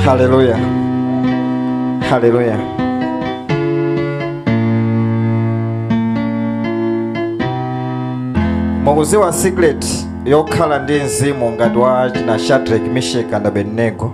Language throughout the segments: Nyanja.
Haleluya, haleluya. Mukuiziwa secret yokhala ndi mzimu ngati wa china Shadrach, Meshach and Abednego.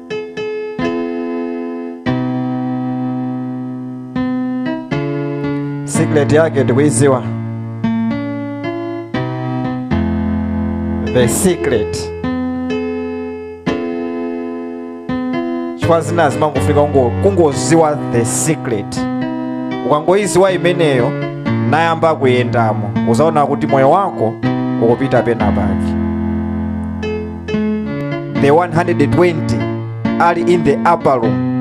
secret yake ndikuiziwa the secret chifukwa zina zimangofika kungo- kungoziwa the secret ukangoiziwa imeneyo nayamba kuyendamo uzaona kuti moyo wako ukupita pena pake the 120 ali in the upper room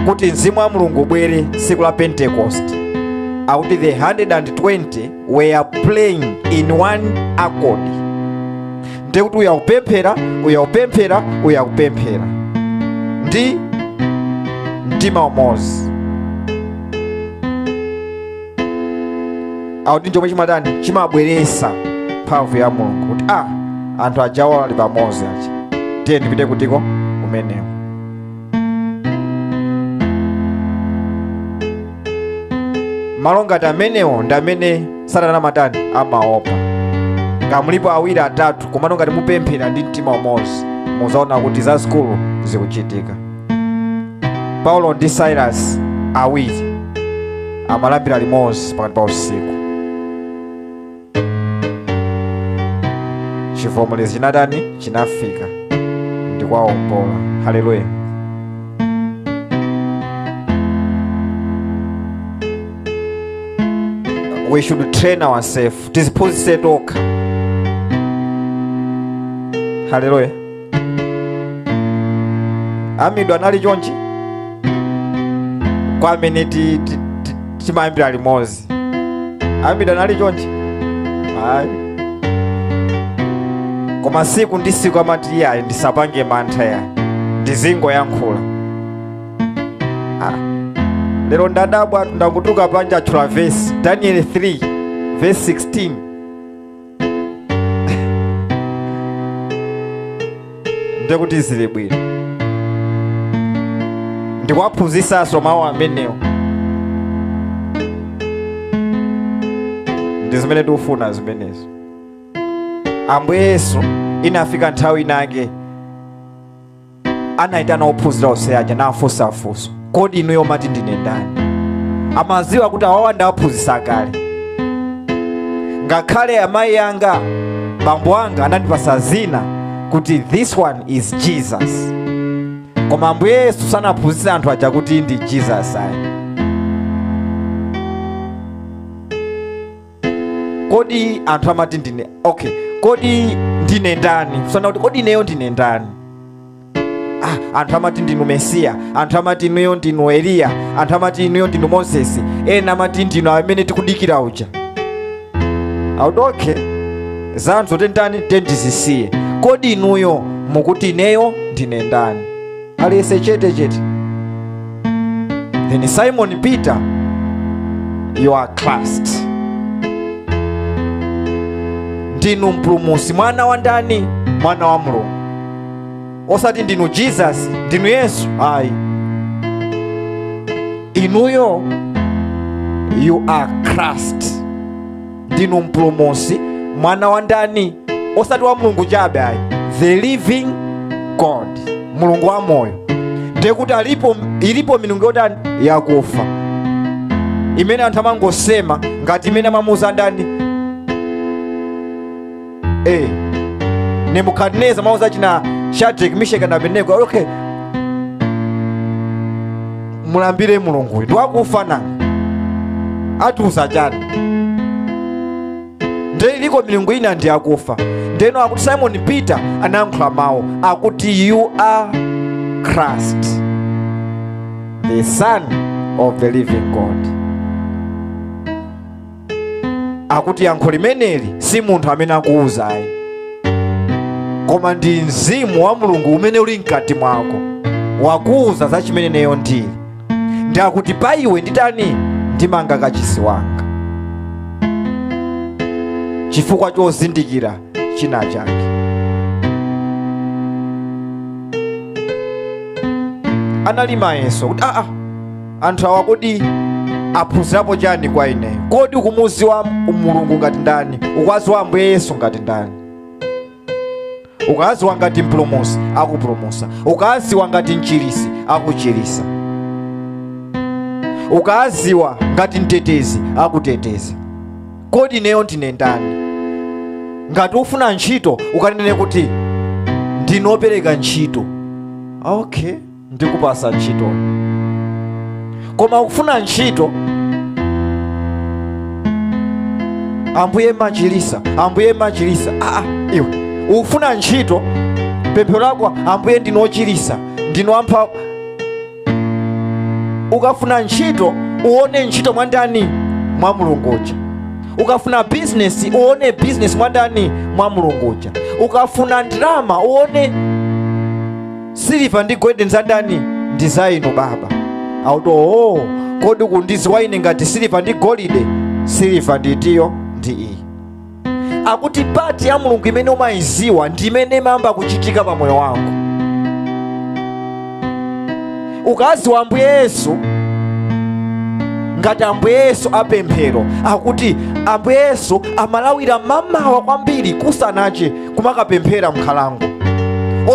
kuti mzimu wa mulungu ubwere tsiku la pentecost akuti the 120 were praying in one accord ndiye kuti uyo akupemphera uyo akupemphera uyo akupemphera ndi mtima umodzi akuti ndi chomwe chimatani chimabweresa mphamvu ya mulungu kuti a ah, anthu ajawa ali pamodzi aja tiye ndipite kutiko kumeneko malo ngati amenewo ndi amene satana matani amaopa ngamulipo awiri atatu komano ngati mupemphera ndi mtima umodzi muzaona kuti zazikulu zikuchitika paulo ndi silas awiri amalambira limodzi pakati pa usiku chivomerezi chinatani chinafika ndi kuwaombola haleluya we should train ourselves tiziphunzitse tokha haleluya amidu anali chonchi kwa amene ti- ti- ti- timayambira limodzi amidu anali chonchi ayi koma siku ndi siku amati iyayi ndisapange mantha yayi ndizingoyankhula Ah. lero ndadabwa ndangotuluka panja atchula vesi daniel 3 vesi 16 ndekuti zili bwino ndikuwaphunzisanso mawu amenewo ndi zimene tikufuna zimenezo ambuye yesu inafika nthawi inake anayitana ophunzira onse aja nafunsa funso kodi inuyo mumati ndine ndani amaziwa kuti awawa ndawaphunzitsa kale ngakhale amayi anga bambo anga anandipatsa zina kuti this one is jesus koma ambuye yesu sanaphunzitse anthu aja kuti ndi jesus ayi kodi anthu amati ndine okay kodi ndine ndani kusana kuti kodi ineyo ndine ndani ah, anthu amati ndinu mesiya anthu amati inuyo ndinu eliya anthu amati inuyo ndinu moses ena amati ndinu amene tikudikira uja akuti okay za anthu zo tenitani nde tizisiye kodi inuyo mukuti ineyo ndine ndani aliyese chete chete then simon peter you are christ ndinu mpulumusi mwana wa ndani mwana wa mulungu osati ndinu jesus ndinu yesu ayi inuyo you are christ ndinu mpulumusi mwana wa ndani osati wa mulungu chabe ayi the living god mulungu wa moyo ndiye kuti alipo ilipo milungu yotani yakufa imene anthu amangosema ngati imene anamuuza andani eh nebukadineza anauza achina shadrack misheka ndi abednego okay mulambire mulungu uyu ndiwakufa nanga akutiuza chani nde iliko milungu ina ndi akufa ndeno akuti simon peter anayankhula mawu akuti you are christ the son of the living god akuti yankho limeneli si munthu amene wakuwuza ayi koma ndi mzimu wa mulungu umene uli mkati mwako wakuwuza za chimene ineyo ndili nde akuti pa iwe nditani ndimanga kachisi wanga chifukwa chozindikira china chake anali mayeso kuti aa anthu awa kodi aphunzirapo chani kwa ine kodi ukumuziwa mulungu ngati ndani ukwaziwa ambuye yesu ngati ndani ukawaziwa ngati mpulumusi akupulumusa ukawaziwa ngati mchirisi akuchirisa ukawaziwa ngati mtetezi akuteteza kodi ineyo ndine ndani ngati ufuna ntchito ukanene kuti ndinu opereka ntchito okay ndikupasa ntchito koma ukufuna ntchito ambuye machilisa ambuye machilisa aa ah, ah, iwe ukufuna ntchito pemphero lako ambuye ndinu ochilisa ndinu wamphamvu ukafuna ntchito uone ntchito mwa ndani mwa mulungu uja ukafuna bizinesi uone bizinesi mwa ndani mwa mulungu uja ukafuna ndalama uone siliva ndi golide ndi za ndani ndi za inu baba akuti oo kodi kundidziwa ine ngati siliva ndi golide siliva nditiyo ndi iyi akuti part ya mulungu imene umayiziwa ndi imene imayamba kuchitika pa moyo wako ukaziwa ambuye yesu ngati ambuye yesu apemphero akuti ambuye yesu amalawira mamawa kwambiri kusanache kumakapemphera mnkhalango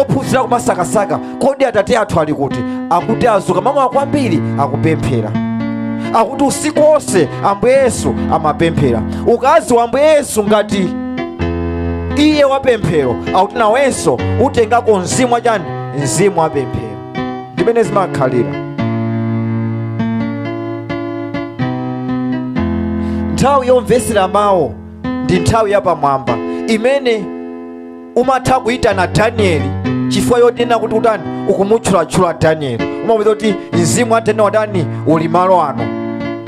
ophunzira kumasakasaka kodi atate athu ali kuti akuti azuka mamawa kwambiri akupemphera akuti usiku wonse ambuye yesu amapemphera ukaziwa ambuye yesu ngati iye wapemphero akuti nawenso utengako mzimu wachani mzimu wapemphero ndimene zimakhalira nthawi yomvetsera mawu ndi nthawi yapamwamba imene umatha kuyitana danieli chifukwa chonena kuti utani ukumutchulatchula danieli umapeza kuti mzimu wa danieli watani uli malo ano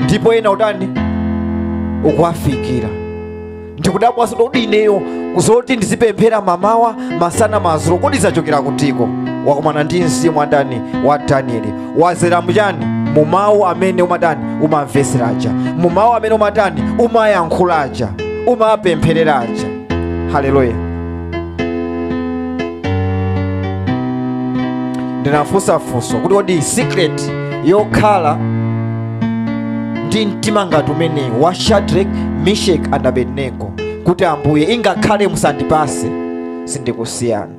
ndipo ena utani ukuwafikira ndikudabwanso kuti ineyo zoti ndizipemphera mamawa masana madzulo kodi zachokera kutiko wakumana ndi mzimu wa ndani wa danieli wazera mchani mu mawu amene umatani umamvetsera aja mu mawu amene umatani umayankhula aja umapempherera aja haleluya ndinafunsa funso kuti kodi secret yokhala ndi mtima ngati umenewu wa shadrack meshach and abednego kuti ambuye ingakhale musandipase sindikusiyani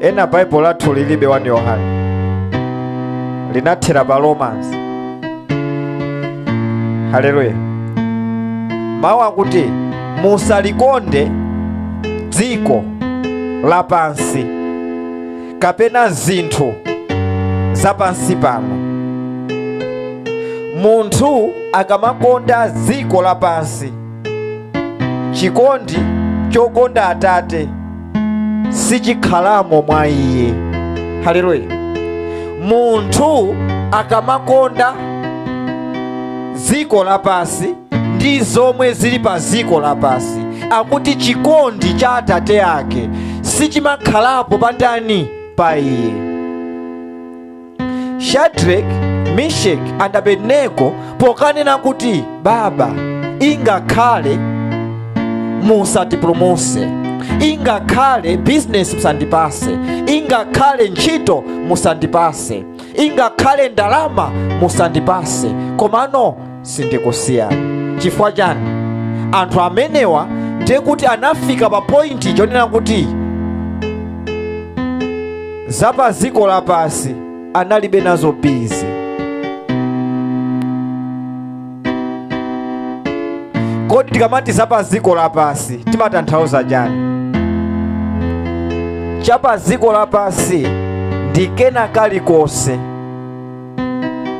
ena baibulo lathu lilibe 1 yohane linathera pa romans haleluya mawu akuti musalikonde dziko lapansi kapena zinthu zapansi pano munthu akamakonda dziko lapansi chikondi chokonda atate sichikhalamo mwa iye haleluya munthu akamakonda dziko lapansi ndi zomwe zili pa dziko lapansi akuti chikondi cha atate ake sichimakhalapo pa ndani pa iye shadrack mishek and abednego pokanena kuti baba ingakhale musatipulumuse ingakhale bizinesi musandipase ingakhale ntchito musandipase ingakhale ndalama musandipase komano sindikusiyani chifukwa chani anthu amenewa ndiye kuti anafika pa pointi yonena kuti za pa dziko lapansi analibe nazo bizi kodi tikamati za pa dziko lapansi timatanthauza chani cha pa dziko lapansi ndi kena kalikonse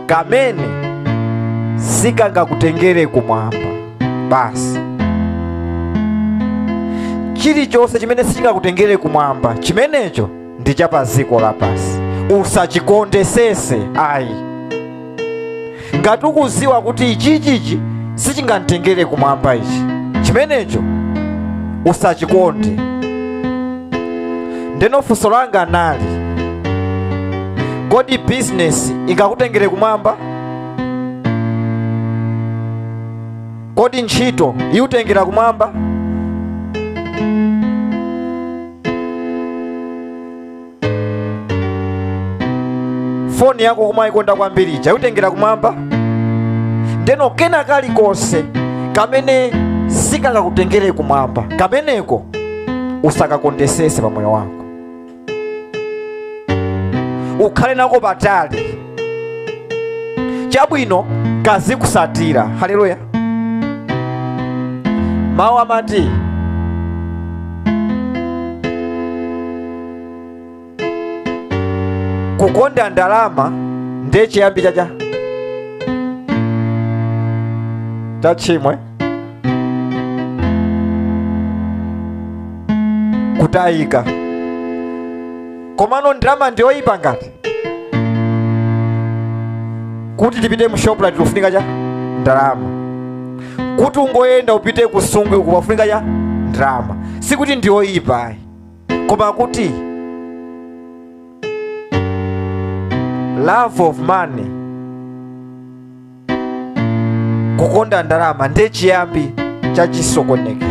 kamene sikangakutengere kumwamba basi chilichonse chimene sichingakutengere kumwamba chimenecho ndi cha pa dziko lapansi usachikondesese ayi ngati ukuziwa kuti ichichichi sichingantengere kumwamba ichi chimenecho usachikonde ndeno funso langa nali kodi bizinesi ingakutengere kumwamba kodi ntchito iutengera kumwamba foni yako kumayikonda kwambiri ija iutengera kumwamba ndeno kena kalikonse kamene sikangakutengere kumwamba kameneko usakakondesese pa moyo wako ukhale nako patali chabwino kazikusatira haleluya mawu amati kukonda ndalama ndiye chiyambi cha cha tchimo kutayika komano ndalama ndiyoyipa ngati kuti tipite mu shoprite kukufunika chani ndalama kuti ungoyenda upite kusungwi kukufunika chani ndalama sikuti ndiyoyipa ayi koma kuti love of money kukonda ndalama ndiye chiyambi cha chisokonekero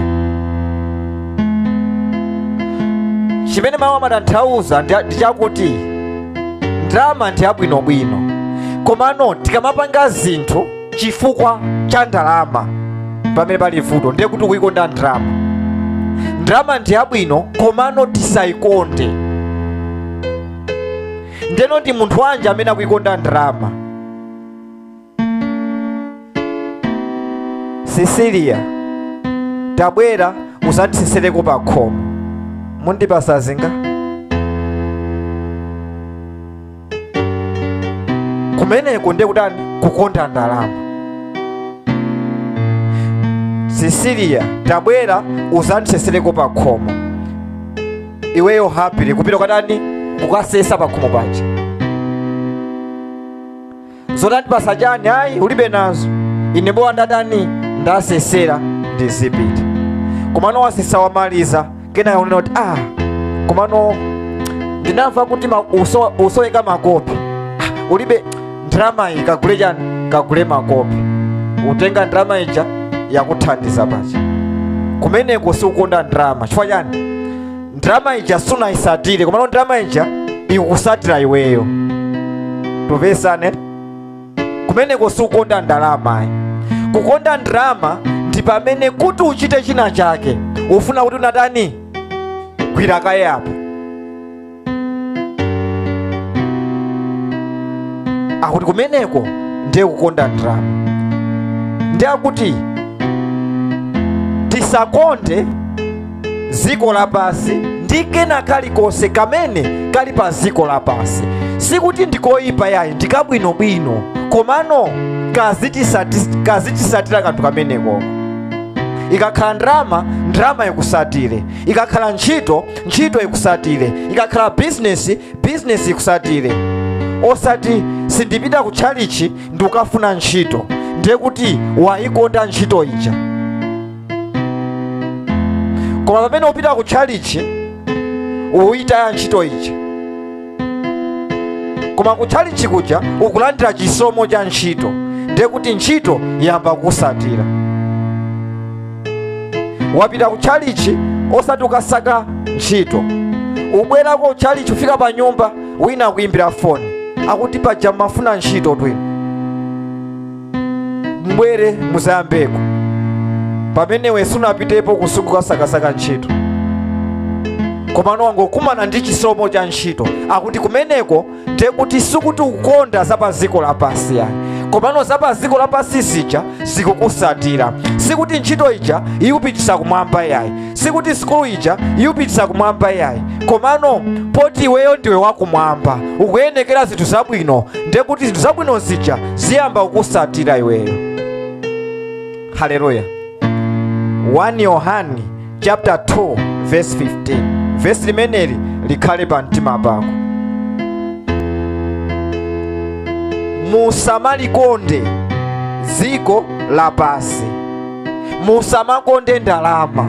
chimene mawu amatanthauza ndi chakuti ndalama ndi yabwinobwino komano tikamapanga zinthu chifukwa cha ndalama pamene pali vuto ndiye kuti kuikonda ndalama ndalama ndi yabwino komano tisayikonde ndeno ndi munthu wanji amene akuikonda ndalama sisiliya tabwera uzandisesereko pa khomo mundipasa zingati kumeneko ndiye kutani kukonda ndalama sisiliya tabwera uzandisesereko pa khomo iweyo happy kupita kukatani kukasesa pa khomo paja zoti andipasa chani ayi ulibe nazo ine bola ndatani ndasesera ndizipita komano wasesa wamaliza kena yaonena kuti ah komano ndinamva kuti ma- uso- usoweka makope Ah, ulibe ndrama iyi kagule chani kagule makope utenga ndrama ija yakuthandiza paja kumeneko sikukonda ndrama chifukwa chani ndalama ija sunayisatire komano ndalama ija ikusatira iweyo tikumvetsana kumeneko sikukonda ndalama ayi kukonda ndalama ndi pamene kuti uchite china chake ufuna kuti unatani gwira kaye apo akuti kumeneko ndiye kukonda ndalama ndiye akuti tisakonde dziko lapansi ndi kena kalikonse kamene kali pa dziko lapansi sikuti ndikoyipa yayi ndikabwinobwino komano kazitisati- kazitisatira kanthu kameneko ikakhala ndalama ndalama ikusatire ikakhala ntchito ntchito ikusatire ikakhala bizinesi bizinesi ikusatire osati sindipita ku tchalichi ndikukafuna ntchito ndiye kuti wayikonda ntchito ija koma pamene upita ku tchalichi uyitaya ntchito ija koma ku tchalichi kuja ukulandira chisomo cha ntchito ndiye kuti ntchito yamba kusatira wapita ku tchalichi osati ukasaka ntchito ubwerako ku tchalichi ufika pa nyumba wina akuyimbira foni akuti paja mumafuna ntchito twino mbwere muzayambeko pamene iwe sunapitepo kusukukasakasaka ntchito komano wangokumana ndi chisomo cha ntchito akuti kumeneko ndekuti sikuti ukonda za pa dziko lapansi yayi komano za pa dziko lapansi zija zikukusatira sikuti ntchito ija ikupitisa kumwamba yayi sikuti sukulu ija ikupitisa kumwamba iyayi komano poti iweyo ndiwe wakumwamba ukuyenekera zinthu zabwino ndiye kuti zinthu zabwino zija ziyamba kukusatira iweyo haleluya 1 yohani chapter 2 verse 15 vesi limeneli likhale pa mtima pako musamalikonde dziko lapansi musamakonde ndalama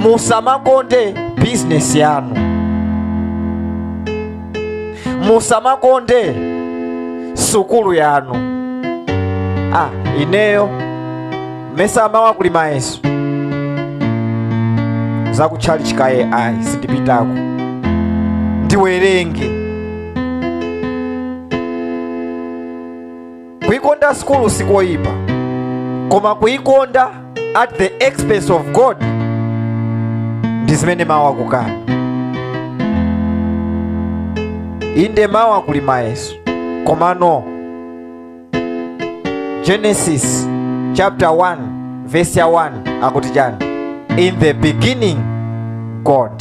musamakonde bizinesi yanu musamakonde sukulu yanu ah, ineyo mesa mawa kuli mayeso zakutchalichi kaye ayi sindipitako ndiwerenge kuikonda sukulu sikoyipa koma kuikonda at the expense of god ndi zimene mawu akukana inde mawa kuli mayeso komano genesis chapter 1 verse ya 1 akuti chani in the beginning god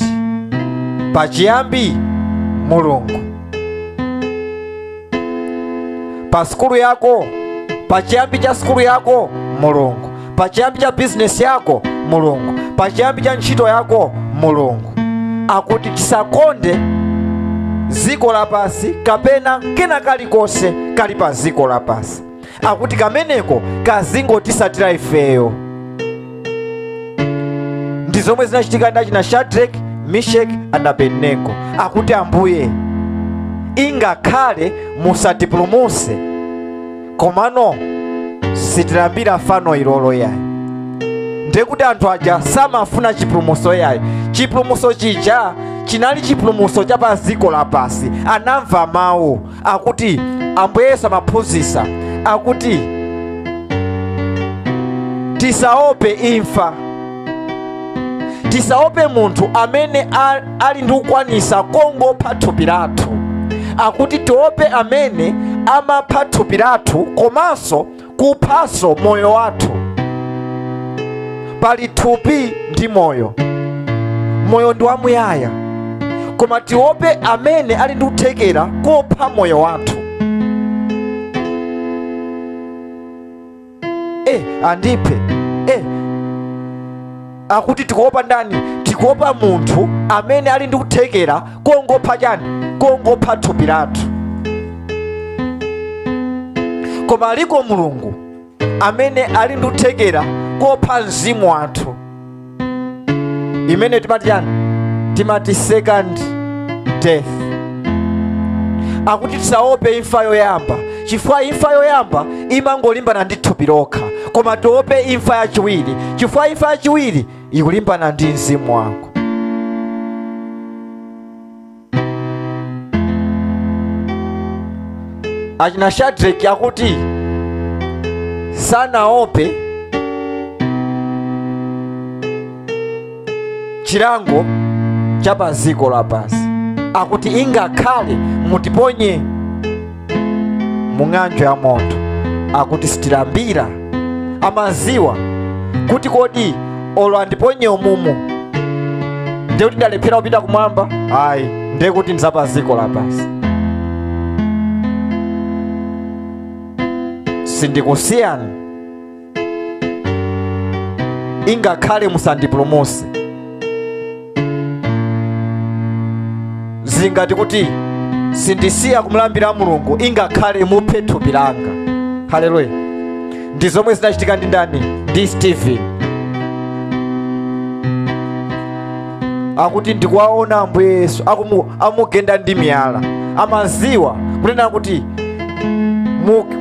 pachiyambi mulungu pa sukulu yako pa chiyambi cha sukulu yako mulungu pa chiyambi cha bizinesi yako mulungu pa chiyambi cha ntchito yako mulungu akuti tisakonde dziko lapansi kapena kena kalikonse kali pa dziko lapansi akuti kameneko kazingotisatira ifeyo ndi zomwe zinachitika ndi achina shadrack mishek and abednego akuti ambuye ingakhale musatipulumuse komano sitilambira fano ilolo yayi ndiye kuti anthu aja samafuna chipulumuso yayi chipulumuso chija chinali chipulumuso cha pa dziko lapansi anamva mawu akuti ambuye yesu amaphunzitsa akuti tisaope imfa tisaope munthu amene a- ali ndi kukwanisa kongopha thupi lathu akuti tiope amene amapha thupi lathu komanso kuphanso moyo wathu pali thupi ndi moyo moyo ndi wamuyaya koma tiope amene ali ndi kuthekera kopha moyo wathu e andiphe e akuti tikuopa ndani tikuopa munthu amene ali ndi kuthekera kongopha chani kongopha thupi lathu koma aliko mulungu amene ali ndi kuthekera kopha mzimu wathu imene timati chani timati second death akuti tisaope imfa yoyamba chifukwa imfa yoyamba imangolimbana ndi thupi lokha koma tiope imfa yachiwiri chifukwa imfa yachiwiri ikulimbana ndi mzimu wako achina shadraki akuti sanaope chilango cha pa dziko lapansi akuti ingakhale mutiponye mu ng'anjo ya moto akuti sitilambira amaziwa kuti kodi olo andiponye umumu ndiye kuti ndalephera kupita kumwamba ayi ndiye kuti ndizapha ziko lapansi sindikusiyani ingakhale musandipulumuse zingati kuti sindisiya kumulambira mulungu ingakhale muphe thupi langa haleluya ndi zomwe zinachitika ndi ndani ndi stephen akuti ndikuwaona ambuye yesu amugenda ndi miyala amaziwa kunena kuti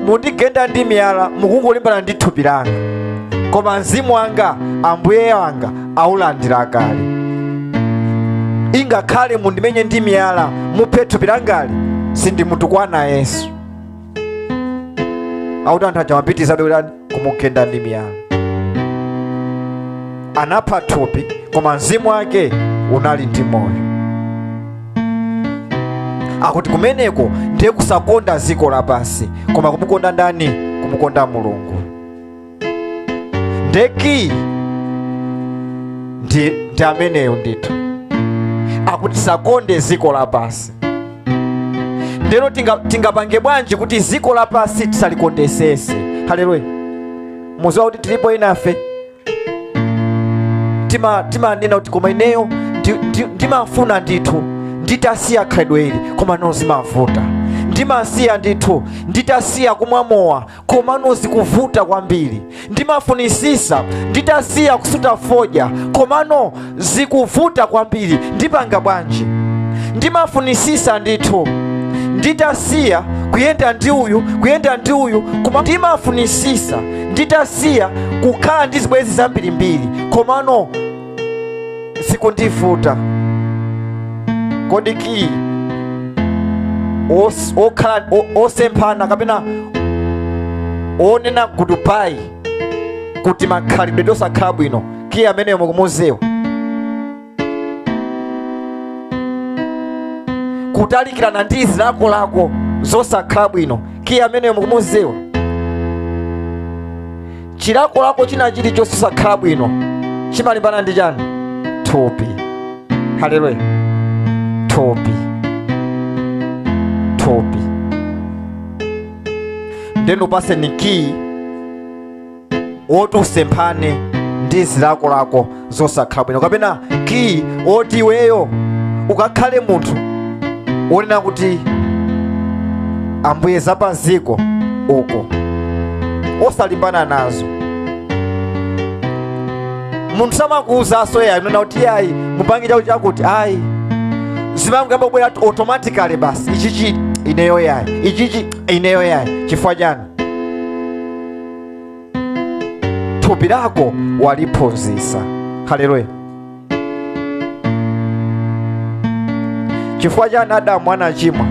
mundigenda ndi miyala mukungolimbana ndi thupi langa koma mzimu wanga ambuye wanga aulandira kale ingakhale mundimenye ndi miyala muphe thupi langali sindimutukwana yesu akuti anthu aja amapitizabe kuti kumugenda ndi miyala anapha thupi koma mzimu wake unali ndi moyo akuti kumeneko ndiye kusakonda dziko lapansi koma kumukonda ndani kumukonda mulungu ndeki ndi, ndi ameneyo ndithu akuti tisakonde dziko lapansi ndeno tingapange bwanji kuti ziko lapasi tisalikondesese haleluya muziwa kuti tilipo enafe timanena kuti koma ineyo ndimafuna ndithu nditasiya khalidwe ili koma no zimavuta ndimasiya ndithu nditasiya kumwa mowa komano zikuvuta kwambiri ndimafunisisa nditasiya kusuta fodya komano zikuvuta kwambiri ndipanga bwanji ndimafunisisa ndithu nditasiya kuyenda ndi uyu kuyenda ndi uyu koma ndimafunisisa nditasiya kukhala ndi zibwenzi zambirimbiri komano zikundivuta kodi kiyi os- okhala o- osemphana kapena onena gudubayi kuti makhalidwe osakhala bwino kiyi ameneyo mukumuziwa kutalikirana ndi zilakolako zosakhala bwino kiyi ameneyo mukumuziwa chilakolako china chilichonse chosakhala bwino chimalimbana ndi chani thupi haleluya thupi thupi nde mpatseni kiyi woti usemphane ndi zilakolako zosakhala bwino kapena kiyi woti iweyo ukakhale munthu wonena kuti ambuye za pa ziko uko osalimbana nazo munthu samakuwuzanso yayi unena kuti yayi mupange chakuti chakuti ayi zimangobwera kuti automatically basi ichichi ineyo yayi ichichi ineyo yayi chifukwa chani thupi lako waliphunzitsa haleluya chifukwa chani adamu anachimwa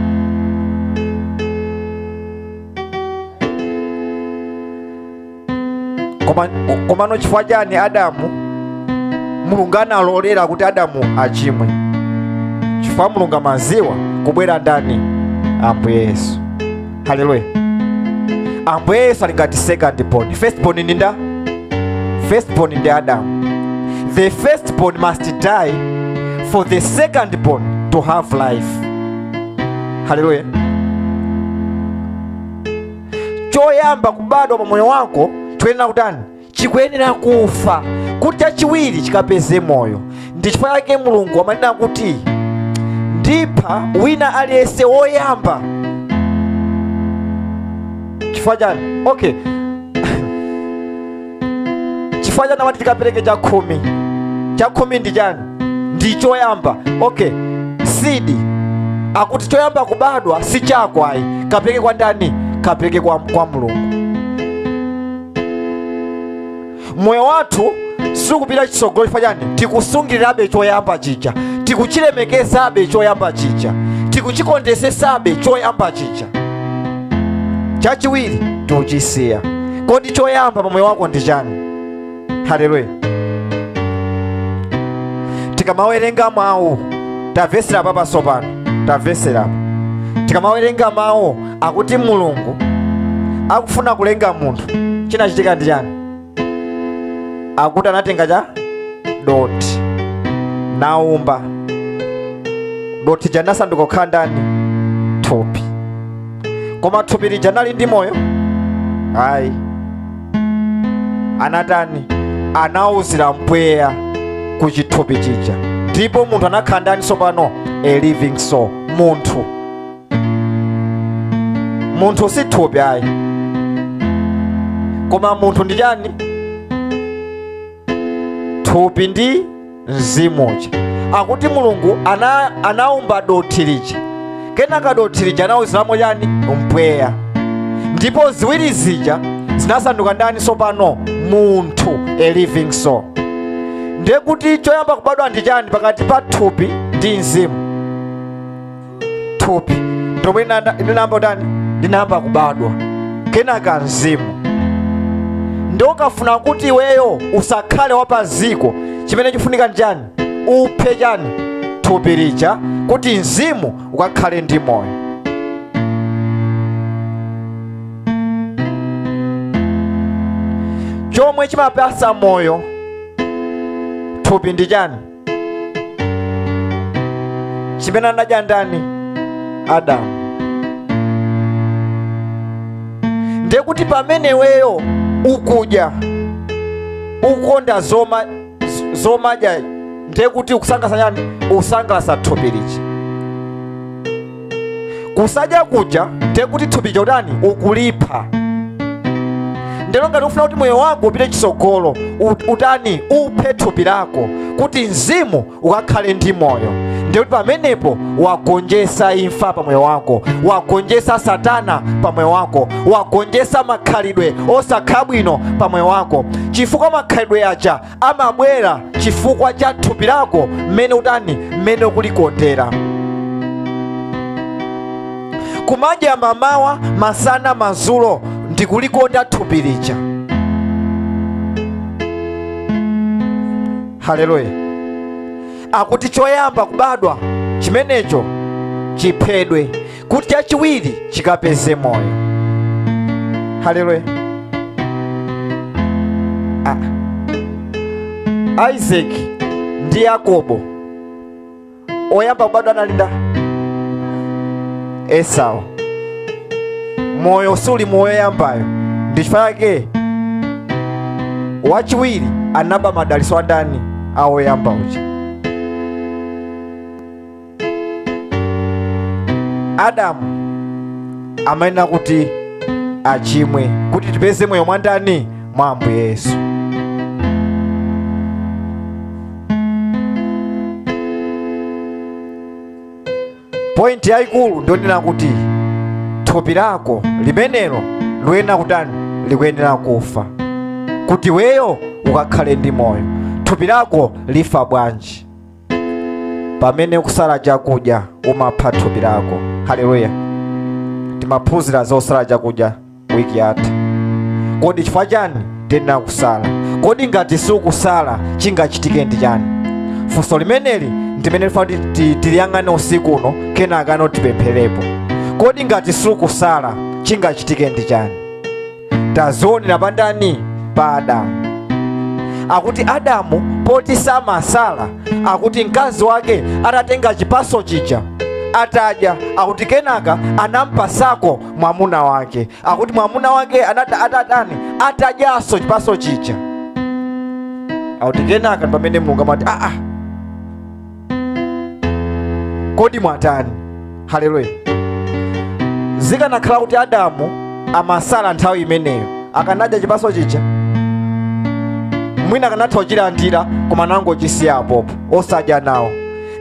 Koma- komano chifukwa chani adamu mulungu analolera kuti adamu achimwe chifukwa mulungu amaziwa kubwera ndani ambuye yesu haleluya ambuye yesu ali ngati second born first born ndi nda first born ndi adamu the first born must die for the second born to have life haleluya choyamba kubadwa pa moyo wako chikuyenera kutani chikuyenera kufa kuti chachiwiri chikapeze moyo ndi chifukwa chake mulungu amanena kuti ndipha wina aliyense woyamba chifukwa chani okay chifukwa chani amati tikapereke chakhumi chakhumi ndi chani ndi choyamba okay sidi akuti choyamba kubadwa si chako ayi kapereke kwa ndani kapereke kwa, kwa mulungu moyo wathu sikupita chitsogolo chifukwa chani tikusungirirabe choyamba chija tikuchilemekezabe choyamba chija tikuchikondesesabe choyamba chija chachiwiri tikuchisiya kodi choyamba pa moyo wako ndi chani haleluya tikamawerenga mawu tamvetsera apa sopano tamvetsera apa tikamawerenga mawu akuti mulungu akufuna kulenga munthu chinachitika ndi chani akuti anatenga cha dothi naumba dothi lija nasanduka kukhala ndani thupi koma thupi lija linali ndi moyo ayi anatani anauzira mpweya ku chithupi chija ndipo munthu anakhala ndani tsopano a living soul munthu munthu si thupi ayi koma munthu ndi chani thupi ndi mzimu uja akuti mulungu anaumba dothi lija kenaka dothi lija anauziramo chani mpweya ndipo ziwiri zija zinasanduka ndani sopano munthu a living soul ndiye kuti choyamba kubadwa ndi chani pakati pa thupi ndi mzimu thupi ndi lomwe linayamba kutani linayamba kubadwa kenaka mzimu nde ukafuna kuti iweyo usakhale wapaziko chimene chifunika ndi chani uphe chani thupi lija kuti mzimu ukakhale ndi moyo chomwe chimapasa moyo thupi ndi chani chimene anadya ndani adamu ndiye kuti pamene weyo ukudya ukonda zomadya ndiye kuti ukusangalasa chani usangalasa thupi lija kusadya kuja ndiye kuti thupi lija utani ukulipha ndero ngati ufuna kuti moyo wako upite chitsogolo utani uphe thupi lako kuti mzimu ukakhale ndi moyo ndiye kuti pamenepo wagonjesa imfa pa moyo wako wagonjesa satana pa moyo wako wagonjesa makhalidwe osakhala bwino pa moyo wako chifukwa makhalidwe aja amabwera chifukwa cha thupi lako mmene utani mmene ukulikondera kumadya mamawa masana mazulo ndikulikonda thupi lija haleluya akuti choyamba kubadwa chimenecho chiphedwe kuti chachiwiri chikapeze moyo haleluya ah. isaki ndi yakobo oyamba kubadwa anali ndani esau moyo suli mwa oyambayo ndi chifukwa chake wachiwiri anaba madaliso a ndani a woyamba uja adamu amayenera kuti achimwe kuti tipeze moyo mwa ndani mwa ambuye yesu pointi yayikulu ndi yonena kuti thupi lako limenelo likuyenera kutani likuyenera kufa kuti weyo ukakhale ndi moyo thupi lako lifa bwanji pamene ukusala chakudya umapha thupi lako haleluya timaphunzira zosala chakudya wiki yatha kodi chifukwa chani tiyenera kusala kodi ngati sukusala chingachitike ndi chani funso limeneli ndi limene ndifuna kuti ti- tiliyang'ane usiku uno kenaka n'tipempherepo kodi ngati sukusala chingachitike ndi chani tazionera pa ndani pa adamu akuti adamu poti samasala akuti mkazi wake atatenga chipaso chija atadya akuti kenaka anampasako mwamuna wake akuti mwamuna wake anata atatani atadyaso chipaso chija akuti kenaka ndi pamene mulungu amati aa kodi mwatani haleluya zikanakhala kuti adamu amasala nthawi imeneyo akanadya chipaso chija mwina akanatha kuchilandira koma nangochisiya apopo osadya nawo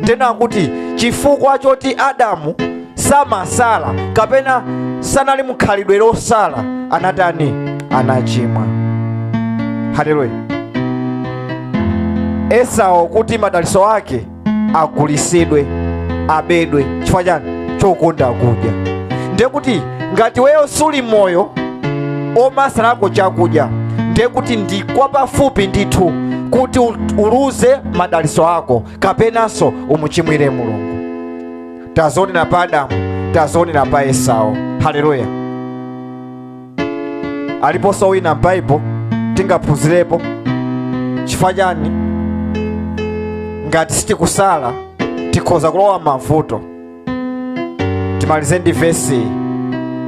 nde ndi kuti chifukwa choti adamu samasala kapena sanali mu khalidwe losala anatani anachimwa haleluya esau kuti madaliso ake agulisidwe abedwe chifukwa chani chokonda kudya ndiye kuti ngati weyo suli moyo omasalako chakudya ndiye kuti ndi kwapafupi ndithu kuti uluze madaliso ako kapenanso umuchimwire mulungu tazionera pa adamu tazionera pa esau haleluya aliponso wina m'baibulo tingaphunzirepo chifukwa chani ngati sitikusala tikhoza kulowa mavuto timalize ndi vesi iyi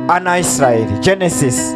ana a israeli genesis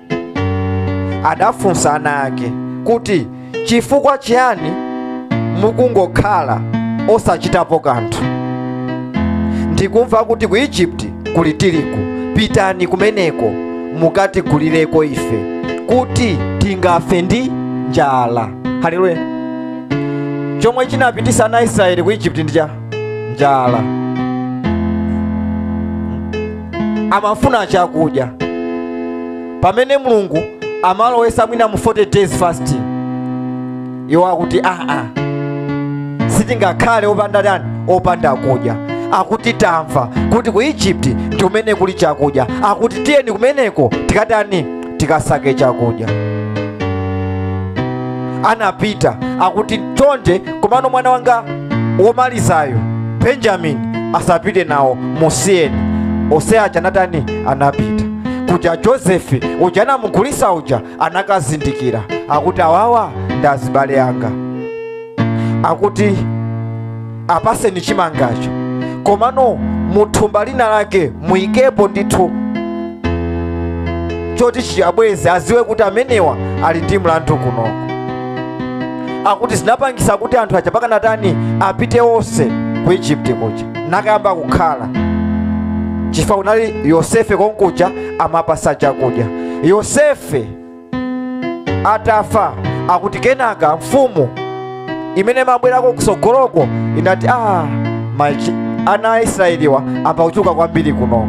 adafunsa ana ake kuti chifukwa chiyani mukungokhala osachitapo kanthu ndikumva kuti ku egypt kuli tirigu pitani kumeneko mukatigulireko ife kuti tingafe ndi njala haleluya chomwe chinapitisa ana israeli ku egypt ndi cha njala amafuna chakudya pamene mulungu amalowesa mwina mu 40 days fasting iwo akuti aa sitingakhale opanda tani opanda kudya akuti tamva kuti ku egypt ndi kumene kuli chakudya akuti tiyeni kumeneko tikatani tikasake chakudya anapita akuti chonde komano mwana wanga womalizayo benjamini asapite nawo musiyeni ose aja anatani anapita kuja josefe uja anamugulisa uja anakazindikira akuti awawa ndi azibale anga akuti apaseni chimangacho komano muthumba lina lake muyikepo ndithu choti chiyabweze aziwe kuti amenewa ali ndi mlandu kunoko akuti zinapangisa kuti anthu aja pakana atani apite onse ku egypt kuja nakayamba kukhala chifukwa kunali yosefe konkuja amapasa chakudya yosefe atafa akuti kenaka mfumu imene imabwerako kusogoloko inati ah machi ana a israeliwa ayamba kuchuluka kwambiri kunoko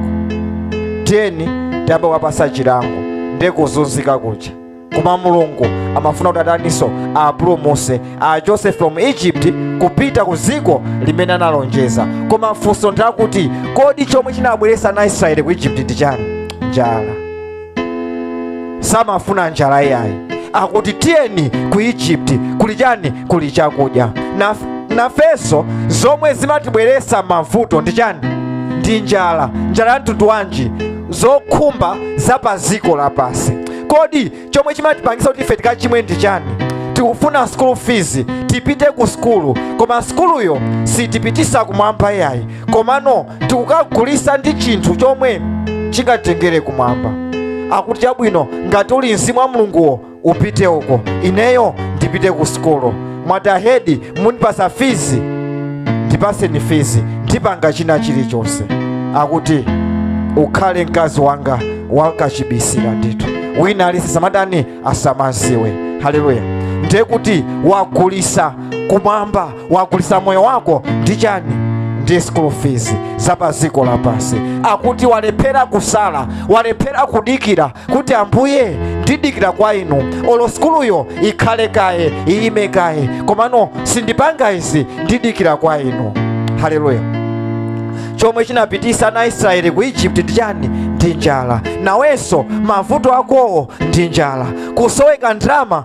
tiyeni tiyamba kuwapasa chilango ndi kuzunzika kuja koma mulungu amafuna kuti ataniso apulumuse a joseph from egypt kupita ku dziko limene analonjeza koma mfunso ndi lakuti kodi chomwe chinabweresa ana israeli ku egypt ndi chani njala samafuna njala iyayi akuti tiyeni ku egypt kuli chani kuli chakudya nafeso zomwe zimatibweresa mavuto ndi chani ndi njala njala ya mtundu wanji zokhumba za pa dziko lapasi kodi chomwe chimatipangisa kuti ife tikachimwe ndi chani tikufuna school fees tipite ku skulu koma skuluyo sitipitisa kumwamba iyayi komano tikukagulisa ndi chinthu chomwe chingatengere kumwamba akuti chabwino ngati uli mzimu wa mulunguwo upite uko ineyo ndipite ku sukulu mwatahedi mundipasa fizi ndipaseni fizi ndipanga china chilichonse akuti ukhale mkazi wanga wakachibisi mwa ndithu wina alise asamatani asamaziwe haleluya ndiye kuti wagulisa kumwamba wagulisa moyo wako ndi chani ndi school fees za pa dziko lapansi akuti walephera kusala walephera kudikira kuti ambuye ndidikira kwa inu olo sukuluyo ikhale kaye iyime kaye komano sindipanga izi ndidikira kwa inu haleluya chomwe chinapitisa ana israeli ku egypt ndi chani ndi njala nawenso mavuto akowo ndi njala kusoweka ndalama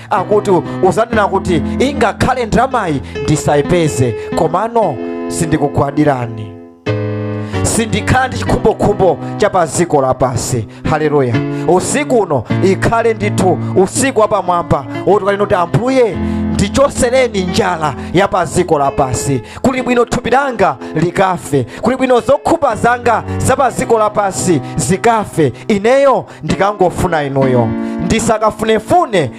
akuti uzanena kuti ingakhale ndalamayi ndisayipeze komano sindikugwadirani sindikhala ndi chikhumbokhumbo cha pa dziko lapansi haleluya usiku uno ikhale ndithu usiku wapamwamba woti ukanena kuti ambuye ndichosereni njala ya pa dziko lapansi kuli bwino thupi langa likafe kuli bwino zokhumba zanga za pa dziko lapansi zikafe ineyo ndikangofuna inuyo ndisakafunefune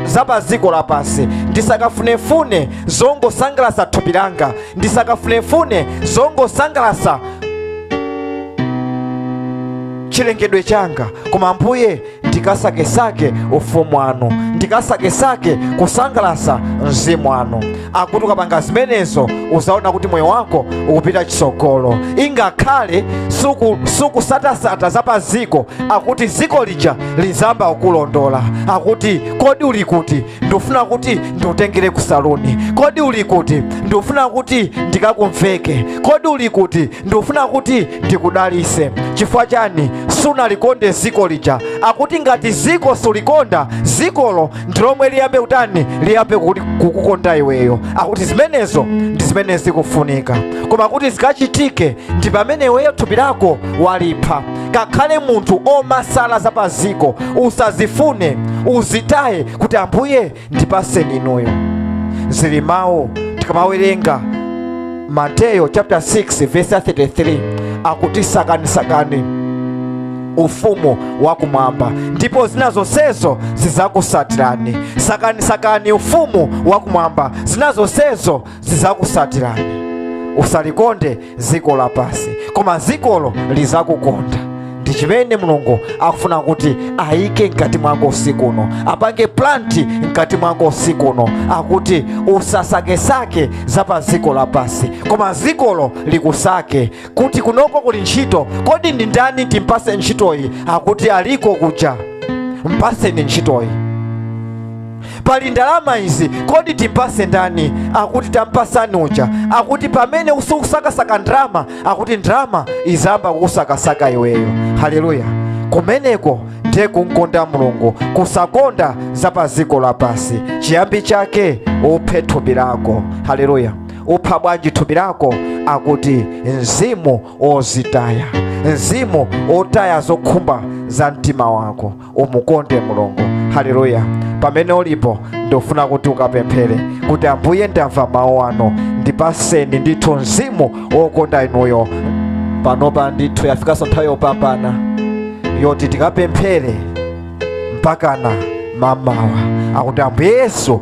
za pa dziko lapansi ndisakafunefune zongosangalasa thupi langa ndisakafunefune zongosangalasa chilengedwe changa koma ambuye ndikasakesake ufumu wanu ndikasakesake kusangalasa mzimu wanu akuti ukapanga zimenezo uzaona kuti moyo wako ukupita chisogolo ingakhale suku- sukusatasata za pa ziko akuti ziko lija lizamba ukulondola akuti kodi uli kuti ndifuna kuti ndikutengere ku saluni kodi uli kuti ndifuna kuti ndikakumveke kodi uli kuti ndifuna kuti ndikudalise chifukwa chani sunalikonde ziko lija akuti ngati ziko sulikonda zikolo ndilomwe liyambe kutani liyambe kukukonda iweyo akuti zimenezo ndi zimene zikufunika koma kuti zikachitike ndi pamene iweyo thupi lako walipha kakhale munthu omasala za paziko usazifune uzitaye kuti ambuye ndipaseni inuyo zili mawu tikamawerenga mateyo chapter 6 verse 33 akuti sakanisakani ufumu wakumwamba ndipo zina zonsezo zizakusatirani sakani sakani ufumu wakumwamba zina zonsezo zizakusatirani usalikonde dziko lapansi koma zikolo lizakukonda ndi chimene mulungu akufuna kuti ayike mkati mwako usiku uno apange planti mkati mwako usiku uno akuti usasakesake za pa ziko lapansi koma zikolo likusake kuti kunoko kuli ntchito kodi ndi ndani timpase ntchitoyi akuti aliko kuja mpaseni ntchitoyi pali ndalama izi kodi timpase ndani akuti tamupatsani uja akuti pamene usikusakasaka ndalama akuti ndalama izamba kukusakasaka iweyo haleluya kumeneko ndiye kumkonda mulungu kusakonda za pa dziko lapansi chiyambi chake uphe thupi lako haleluya upha bwanji thupi lako akuti mzimu wozitaya mzimu wotaya zokhumba za mtima wako umukonde mulungu haleluya pamene ulipo ndofuna kuti ukapemphere kuti ambuye ndamva mawu anu ndipaseni ndithu mzimu wokonda inuyo panopa ndithu yafikanso nthawi yopambana yoti tikapemphere mpakana mamawa akuti ambuye yesu